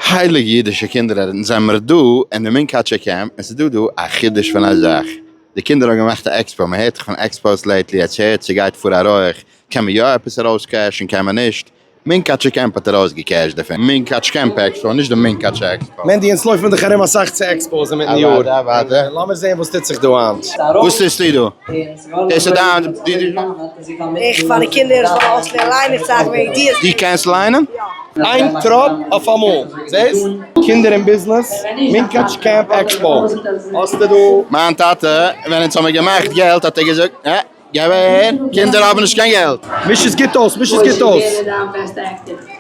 הייליגע אידישע קינדער ארענטן זעמער דא אין די מונקאטשער קעמפ און ס'איז דא דא א חידוש פון א זאך, די קינדער האבן געמאכט א עקספאו, מען הערט דאך פון עקספאוס לעיטלי עטס הערטס ס'גייט פאר א רויעך, קען מען יא עפעס ארויס קעשן קען מען נישט? מונקאטשער קעמפ האט ארויס געקעשט דערפון. מונקאטש קעמפ עקספאו נישט די מונקאטשע עקספאו. מענדי אונז לויפן דאך ארום אסאך צו עקספאוס אינמיטן יאר, לאמיר זעהן וואס טוט זיך דא היינט. וואס טוסטו דא? דאס איז דיין דידי שטוב? איך פאר די קינדער זאלן אויסלערנען ליינען צייכן און ידיעות. דו קענסט ליינען? איין טראפ אויפאמאל, זעסט? קינדער און ביזנעס, מונקאטש קעמפ עקספאו, האסטו דא. מיין טאטע ווען אונז האמיר געמאכט געלט האט ער געזאגט, אה, געב אהער, קינדער האבן נישט קיין געלט. מיש עס גוט אויס, מיש עס גוט אויס.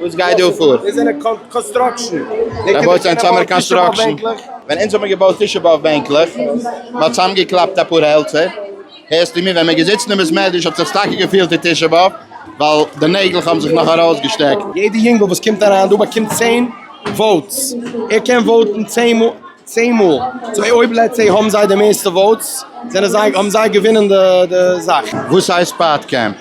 וואס גייט דא פאר? דאס זענען קאנסטראקשן. ער בויט זיין צומער קאנסטראקשן. ווען אונז האבן געבויט תשעה באב בענקלעך, מען האט צאם געקלאפט אפאר העלצער, הערסטו מיר? ווען מען איז געזיצן אין בית מדרש האט זיך טאקע געפילט ווי תשעה באב, ווייל די נעגלעך האבן זיך נאך ארויסגעשטעקט. יעדע יונגל וואס קומט אריין דא באקומט צען וואוטס, ער קען וואוטן צען מאל. צען מאל צו אויב לעטס סעי האבן זיי די מערסטע וואוטס זענען זיי האבן זיי געווינען די זאך. וואס הייסט פאט קעמפ?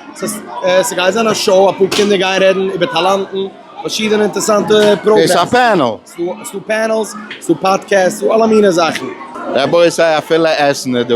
ס'גייט זיין א שאו, אפאר קינדער גייען רעדן איבער טאלאנטן, פארשידענע אינטערסאנטע פראגרעמס. דאס איז א פענעל? ס'דא פענעלס, ס'דא פאדקעסט, ס'דא אלע מיני זאכן. רבותי אפילו עסן איז דא.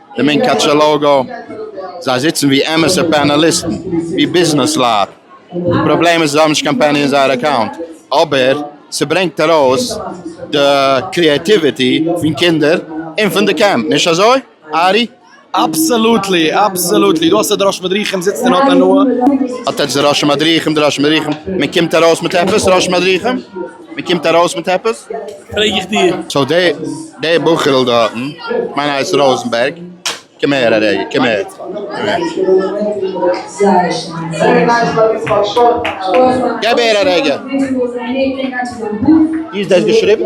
די מונקאטשער לאגא, זיי זיצן ווי אמת'ע פענעליסטן, ווי ביזנעסלייט, די פראבלעם איז זיי האבן נישט קיין פעני אין זייער אקאונט, אבער ס'ברענגט ארויס די קריעטיוויטי פון קינדער און פון די קעמפ, נישט אזוי ארי? אבסעלוטלי, אבסעלוטלי, דו האסט די ראש מדריכים זיצט און האט הנאה. אטעטש די ראשי מדריכים, די ראשי מדריכים, מען קומט ארויס מיט עפעס ראשי מדריכים? מען קומט ארויס מיט עפעס פרעג איך דיר. סאו די די בחור'ל דארטן מיין הייסט ראזענבערג קום הער א רגע קום הער געב הער א רגע איז דאס געשריבן?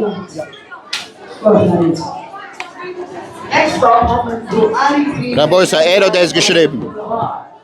רבותי ער האט דאס געשריבן?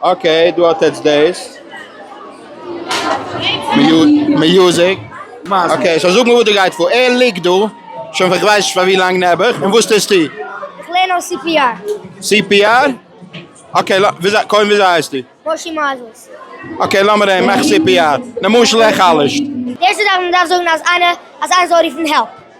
אקעי דא האט עטץ דעיס מיוזיק. אקעי סאו זאג מיר וואס דא גייט פאר. ער ליגט דא שוין פאר כ'ווייס נישט פאר ווי לאנג נעבעך און וואס טוסטו? איך לערן אויס סי פי אר. סי פי אר? אקעי לא וויאזוי קודם וויאזוי הייסטו? מושי מייזעלס. אקעי לאמיר זעהן מאך סי פי אר למשל איך חלש'ט. די ערשטע זאך וואס מ'דארף זאגן אז איינער אז איינער זאל רופן העלפ.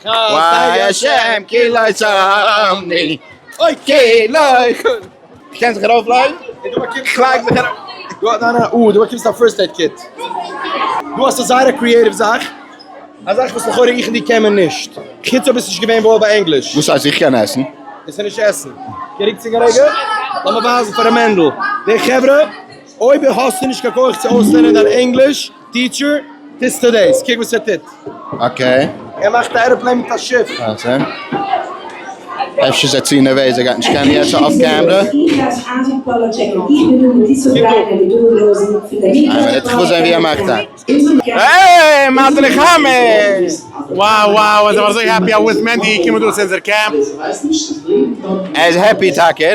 חסדי השם כי לא צרמני אוי כי לא חסדי קען זיך ארויף לייגן? כ'לייג זיך ארויף. דא א ניין ניין אה דא באקומסטו א פירסט עיד קיט. דא האסטו א זייער א קריעטיוו זאך, א זאך וואס לכאורה איך און דו קען מען נישט, חוץ אויב ביסט נישט געווען וואויל ביי ענגליש. וואס הייסט איך קען עסן? דאס איז נישט עסן. געריקט צו גערעגער? לאמיר ווייזן פאר ר' מענדל. דעי חברה, אויב האסטו נישט קיין כח צו אויסלערנען דיין ענגליש, טיטשער, טוסטו דאס? קוק וואס ער טוט. אקעי. ער מאכט א עראפלעין מיט א שיף. אויסער. אפשר איז ער צו נערוועז ער גייט נישט קענען יעצט אויף קעמרע. העי! מזל איך האמיר! וואו וואו איז ער אזוי העפי אז וויסט מענדי איז געקומען דא צו אונזער קעמפ. ער איז העפי טאקע.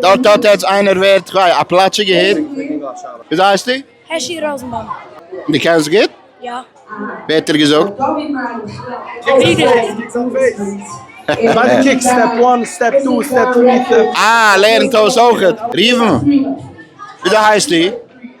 דארט האט עטץ איינער ווערט א פלאטשיגע היט? וויאזוי הייסטו? העשי ראזענבאום. דו קענסט גוט? יא. ווער האט דיר געזאגט? אה, ער לערנט אויס אויכעט. ראובן, וויאזוי הייסטו?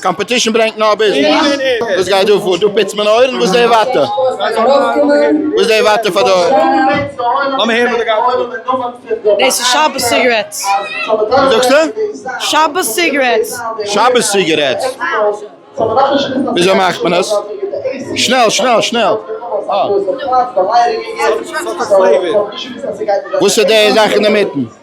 קאמפעטישן ברענגט נאר ביזנעס. וואס גייט דא פאר? דא פיצט מען אויערן? וואס די וואטע? וואס די וואטע פאר דא? דאס איז שבת סיגרעטס. וואס זאגסטו? שבת סיגרעטס. שבת סיגרעטס. וויאזוי מאכט מען עס? שנעל שנעל שנעל. וואס איז די זאך אינדערמיטן?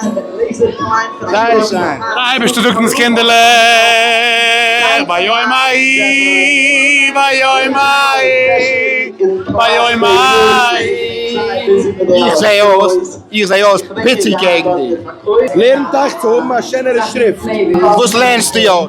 זייער שיין. דער אייבערשטער זאגט אונז קינדערלעך ביום ההיא ביום ההיא ביום ההיא איך זעה אויס איך זעה אויס פיצי קעגן דיר. לערנט אייך צו האבן א שענערע שריפט. וואס לערנסטו אויס?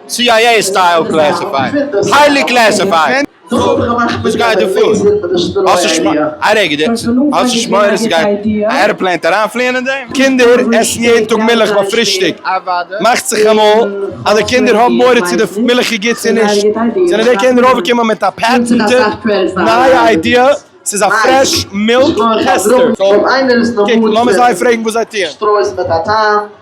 סי איי עי סטייל קלעסיפייד היילי קלעסיפייד. וואס גייט דא פאר? האסט נישט שמע א רגע די האסט נישט מורא אז סגייט א ערעפלעין אריינפליען אין דעם? קינדער עסן יעדן טאג מילך ביי פרישטאג, מאכט זיך אמאל אז די קינדער האבן מורא צו די מילך איז גוט צו נישט, זענען די קינדער אויפגעקומען מיט א פעטענטע נייע איידיע, ס'איז א פרעש מילק טעסטער, קוק לאמיר זיי פרעגן וואס זיי טוען.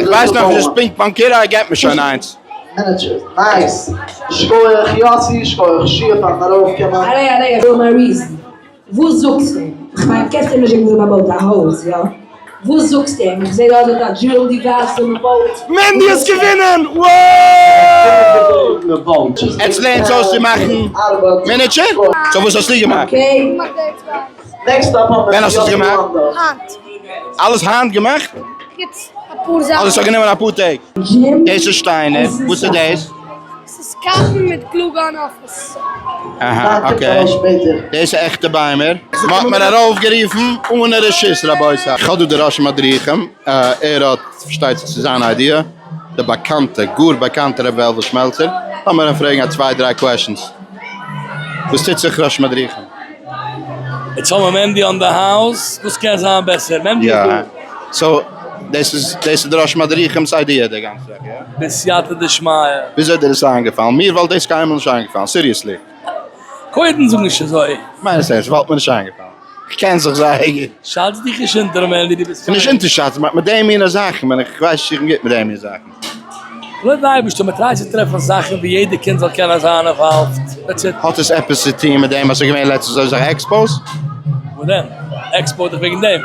איך ווייס נאך נישט פונקט מיין קירא ער געט מיר שוין איינס. מענדי האט געווינען! וואוו! עטס לערנטס אויס צו מאכן מינעטשער? סאו וואס האסטו געמאכט? ווען האסט עס געמאכט? אלעס היינט געמאכט? אדער ס'האט גענומען אפאר טעג? דאס איז שטיינער, וואס איז דאס? ס'איז קאכן מיט גלו גאן אויף עס. אהא אקעי, דאס איז עכטע ביימער? מ'האט מיר ארויפגערופן אנע רשות רבותי, כ'האב דא די ראשי מדריכים, ער האט פארשטייט זיך צו זיין איידיע. די באקאנטע, גאר באקאנטע רבי וועלוול שמעלצער, לאמיר אים פרעגן א צוויי דריי קוועשענס. וואס טוט זיך ר' מדריכם? יעצט האמער מענדי אן די האוז, וואס קען זיין בעסער? מענדי איז דא. סאו דאס איז דאס איז ר' מדריכם'ס איידיע די גאנצע זאך, יא? בסייעתא דשמיא. וויאזוי דיר עס איינגעפאלן? מיר וואלט דאס קיינמאל נישט איינגעפאלן, סיריעסלי. קודם זאג נישט אזוי. כ'מיין עס ערנסט, ס'וואלט מיר נישט איינגעפאלן. כ'קען זיך זייער גוט. שאץ דיך נישט אונטער מער ווי דו ביסט פארדינט. נישט אונטערשאצן, באט מיט די מינע זאכן בין איך, כ'ווייס נישט איך בין גוט מיט די מינע זאכן. לויט די אייבערשטער, מען טרייט צו טרעפן זאכן ווי יעדער קינד זאל קענען זיין אינוואלווד, דעטס איט. האט עס עפעס צו טון מיט דעם אז ס'איז געווען לעצטנס אזויסאך עקספאוס? וואס דען? עקספאו דיך וועגן דעם?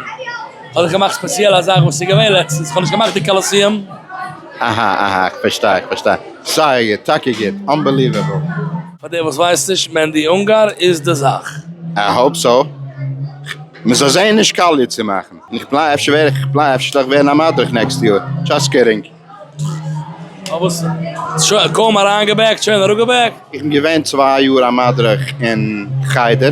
כ'האב דאך געמאכט ספעציעל א זאך וואס איז געווען לעצטנס, כ'האב נישט געמאכט די קאלאסיעם. אהא אהא כ'פארשטיי איך פארשטיי סארי גוט טאקע גוט אנבעליוועבל. פאר די וואס ווייסן נישט, מענדי אונגאר איז די זאך. איי האופ סאו. מ'זאל זעהן נישט קאליע צו מאכן. און איך פליי אפשר ווער איך איך פליי אפשר זאל איך ווערן א מדריך נעקסט יאר. דזשאסט קידינג. אוי וואס שוין קוים אריינגעבעקט שוין אראפגעבעקט. איך בין געווען צוויי יאר א מדריך אין חדר.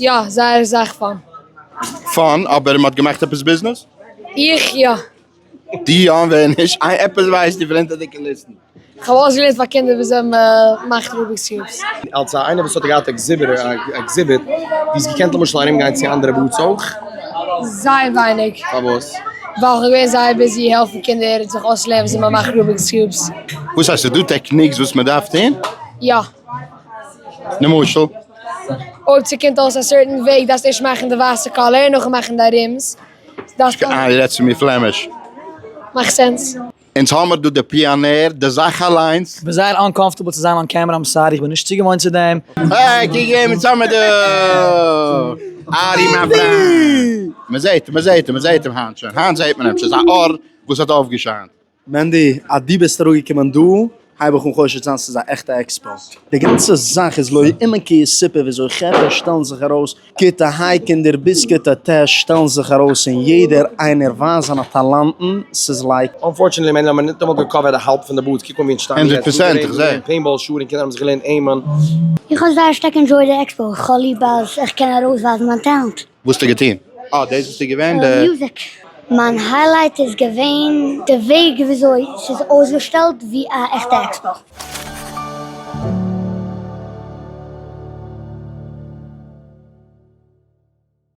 יא, זייער אסאך פאן. פאן, אבער מען האט געמאכט עפעס ביזנעס? איך יא. דו יא און ווער נישט? איי עפעס ווייסטו פון הינטער די קוליסן? כ'האב אויסגעלערנט פאר קינדער וויאזוי מ'מאכט רוביק'ס קיוב'ס. אלס א איינער וואס האט געהאט עקזיבער עקזיביט, דו האסט געקענט למשל ארום גיין צו אנדערע בארדס אויך? זייער ווייניג. פארוואס? ווייל כ'בין געווען זייער ביזי העלפן קינדער זיך אויסלערנען וויאזוי מ'מאכט רוביק'ס קיוב'ס. וואס הייסט? ס'איז דא טעקניקס וואס מ'דארף טון? יא. למשל. אויב ס'קומט אויס א סערטען וועג דארפסטו ערשט מאכן די ווייסע קאלער נאכן מאכן די ארימס. אה די רעדסט צו מיר פלעמיש. מאכט סענס. אונז האמער דא די פיאנער די זאך אליינס. כ'בין זייער אנקאמפארטעבל צו זיין אן קעמרע איים סארי כ'בין נישט צוגעוואוינט צו דעם. אה קוק וועם אונז האמער דא. ארי מיין פריינט. מ'זעהט אים מ'זעהט אים מ'זעהט אים היינט שוין היינט זעהט מען אים ס'איז א אור וואס האט אויפגעשיינט. מענדי, אז דו ביסט אראפגעקומען דא, הייב איך אן חושד זיין ס'איז א עכטע עקספא. די גאנצע זאך איז לא עמקי סיפור וויאזוי חברה שטעלן זיך ארויס, כיתה ה' קינדער ביז כיתה ט' שטעלן זיך ארויס און יעדער איינער ווייזט זיינע טאלאנטן, ס'איז לייק. אנפארטשענעטלי מענדי האט מען ניטאמאל געקאווערט די האלב פון די בארדס, קוק אן ווי אונז שטייען יעצט, ווי גערעדט איז געווען פעינבאל שעה און קינדער האבן זיך געלערנט עימען. איך האב זייער שטארק ענדזשויד די עקספא, כולי באז איך קען ארויסווייזן מיין טעלענט. וואס האסטו געטון? אה דאס ביסטו געווען די. מיין היילייט איז געווען די וועג וויאזוי ס'איז אויסגעשטעלט ווי א עכטע עקסבאו.